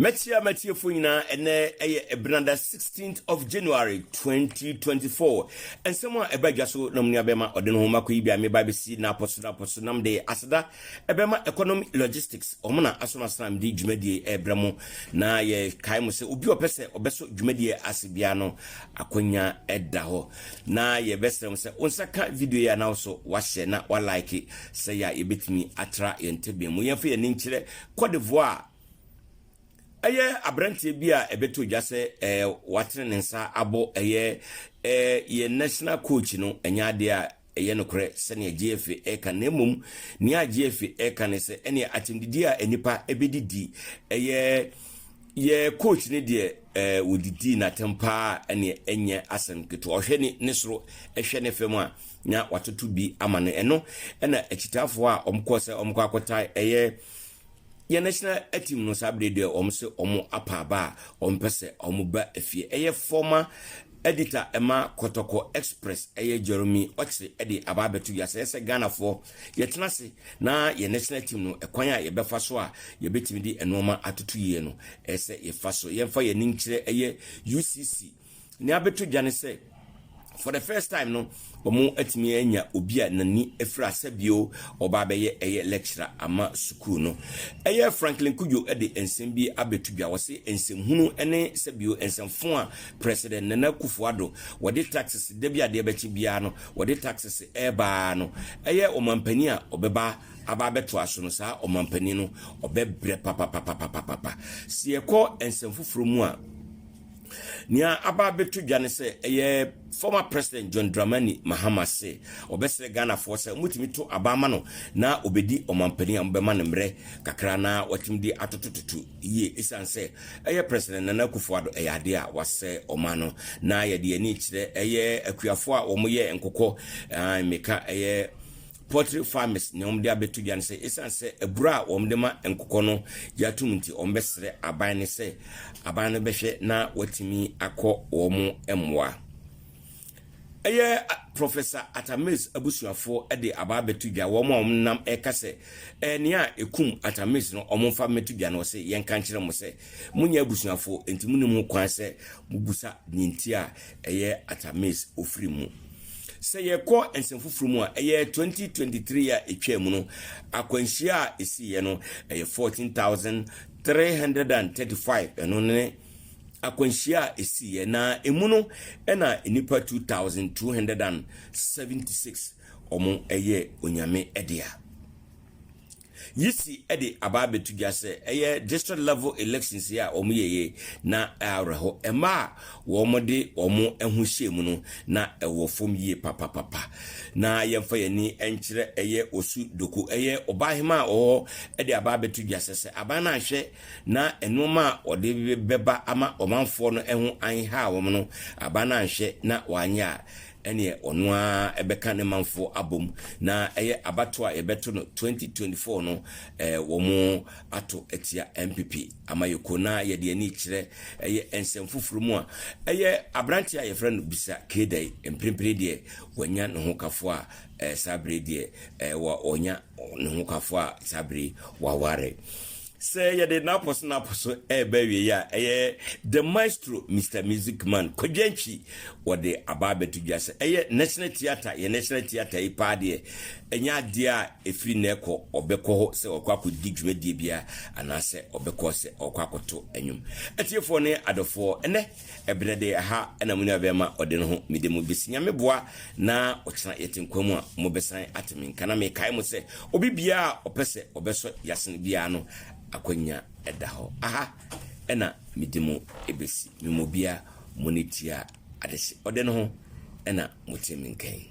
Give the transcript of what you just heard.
Mɛkyia m'atiefo nyinaa ɛnɛ ɛyɛ ɛbenada 16th of January 2024 nsɛm a ɛba dwa so na mu nua bɛma ɔde ne ho ma kɔ yi bi a meba bɛsi na apɔ so na apɔ so nam de aseda ɛbɛma economy logistics wɔn na aso asena mede dwumadie ɛbrɛ mo na yɛkae mo sɛ obi ɔpɛ sɛ ɔbɛso dwumadie ase biara no akwanya ɛda hɔ na yɛbɛsrɛ mo sɛ wo nsa ka video yi a na nso wahyɛ na wa like sɛ yɛ a yɛbɛtumi atra yɛn tebea mu yɛmfa yɛn ani nkyerɛ Cote d'Ivoire ɛyɛ aberanteɛ bi a ɛbɛtɔ dwa sɛ ɛɛ watene ne nsa abɔ ɛyɛ ɛɛ yɛn national coach no ɛnyɛ adeɛ a Ɛyɛ nokorɛ sɛdeɛ JFA reka na mmom nea JFA reka ne sɛ ɛneɛ akyɛmdidie a nnipa bɛdi di ɛyɛ yɛ coach ne deɛ ɛɛ eh, wɔdidii n'atɛm paa ɛneɛ ɛnyɛ asɛm ketewa ɔhwɛ ne ne soro ɛhwɛ ne fam a na watoto bi ama no ɛno ɛna akyitaafoɔ a wɔkɔɔ sɛ wɔkɔ akɔtae ɛyɛ Yɛn National Team no saa bere deɛ wɔn se wɔn apa aba a wɔn pɛ sɛ wɔn ba efie. Ɛyɛ fɔma edita ɛma Kɔtɔkɔ Express ɛyɛ Jeremy Ɔkyere ɛde aba abɛto dwa sɛ yɛsɛ Ghanafoɔ yɛtena ase na yɛn National Team no ɛkwan a yɛbɛfa so a yɛbɛtumi de nnoɔma atoto yie no ɛsɛ yɛfa so yɛmfa yɛn ani nkyerɛ ɛyɛ UCC Nea abɛto dwa ne sɛ, for the first time no, wɔatumi anya obi a n'ani afiri asa bio a ɔba abɛyɛ ɛyɛ lecturer ama sukuu no. Ɛyɛ Franklin Cudjoe de nsɛm bi abɛto dwa. Ɔse nsɛmhunu ne sɛ bio nsɛmfo a President Nana Akufo Addo wɔde taxes da bi adeɛ bɛkye biara no wɔde taxes reba ara no ɛyɛ ɔmanpanin a ɔbɛba aba abɛtoa so no saa ɔmanpanin no ɔbɛbrɛ papapapapapapa. Se yɛkɔ nsɛm foforɔ mu a, Nea aba abɛto dwa ne sɛ ɛyɛ former President John Dramani Mahama se ɔbɛsrɛ Ghanafoɔ sɛ wɔbɛtumi to aba ama no na ɔbɛdi ɔmanpanin a wɔbɛma no mmerɛ kakra na watumi de atotototo yie ɛsiane sɛ ɛyɛ President Nana Akufo-Addo ɛyɛ adeɛ a wasɛe ɔman no na yɛde yɛn ani rekyerɛ ɛyɛ akuafoɔ a wɔyɛ nkokɔ, ae meka ɛyɛ Poultry farmers nea wɔde abɛto dwa ne sɛ esiane sɛ abura a wɔde ma nkokɔ no gye atom nti, wɔbɛsrɛ aban no sɛ aban no bɛhwɛ na wɔatumi akɔ wɔn mmoa. Ɛyɛ Professor Atta Mills abusuafoɔ de aba abɛto dwa, wɔn a wɔnam reka sɛ ɛyɛ nea ekum Atta Mills no wɔmfa mmɛto dwa no, ɔse, Yɛnka nkyerɛ mo sɛ, Monyɛ abusuafo, enti munnim ho kwan sɛ mubisa nea enti a ɛyɛ Artemis ofiri mu. Sɛ yɛkɔ nsɛm foforo mu a, ɛyɛ 2023 a etwaa mu no akwanhyia a esiiɛ no, ɛyɛ 14335, ɛno ne akwanhyia a esiiɛ, na emu no na nnipa 2276 wɔn ɛyɛ Onyame dea. Yisi de aba abɛto dwa sɛ ɛyɛ district level elections yi a wɔyɛeɛ na awerɛho mma a wɔde wɔn ho hyɛɛ mu no na ɛwɔ fam yie papapapa. Na yɛmfa yɛn ani nkyerɛ ɛyɛ Osu Doku, ɛyɛ Ɔbaahemaa a ɔwɔ hɔ de aba abɛto dwa sɛ sɛ aban no anhwɛ na nnoɔma a wɔde bɛba ama ɔmanfoɔ no ho anhaw wɔn no, aban no anhwɛ na wɔanyɛ a ɛneɛ ɔno ara bɛka ne manfoɔ abom na ɛyɛ abatoɔ a yɛbɛto no 2024 no ɛɛ wɔn ato atia NPP amayɛkuo na yɛde ani rekyerɛ ɛyɛ nsɛm foforɔ mu a ɛyɛ aberanteɛ a yɛfrɛ no Bisa Keedai mprempren deɛ wanya ne ho kafoɔ a ɛɛ saa bere deɛ ɛɛ wa ɔnya ne ho kafoɔ a saa bere waware. Sɛ yɛde Naples Naples so reba awieɛ a, ɛyɛ The Maestro Mister Music Man Kwadwo Antwi wɔde aba abɛto dwa sɛ ɛyɛ National Theatre, yɛn National Theatre yi paa deɛ ɛnyɛ adeɛ a ɛfiri nnɛ rekɔ ɔbɛkɔ hɔ sɛ ɔrekɔ akɔdi dwumadie biara anaasɛ ɔbɛkɔ sɛ ɔrekɔ akɔto nnwom. Atiefoɔ ne adɔfoɔ, ɛnnɛ. Ɛberɛ de ɛha na mo nua bɛɛma ɔde no ho mede mo besi Nyame boa na ɔkyena yɛte nkwa mu a mo bɛsan ate me nka na me kae mo sɛ obi biara a ɔpɛ sɛ ɔbɛsɔ yasen biara no akwanya da hɔ aha na mede mo besi me mu obia mo ne tia adehye ɔde no ho na mo te me nka yi.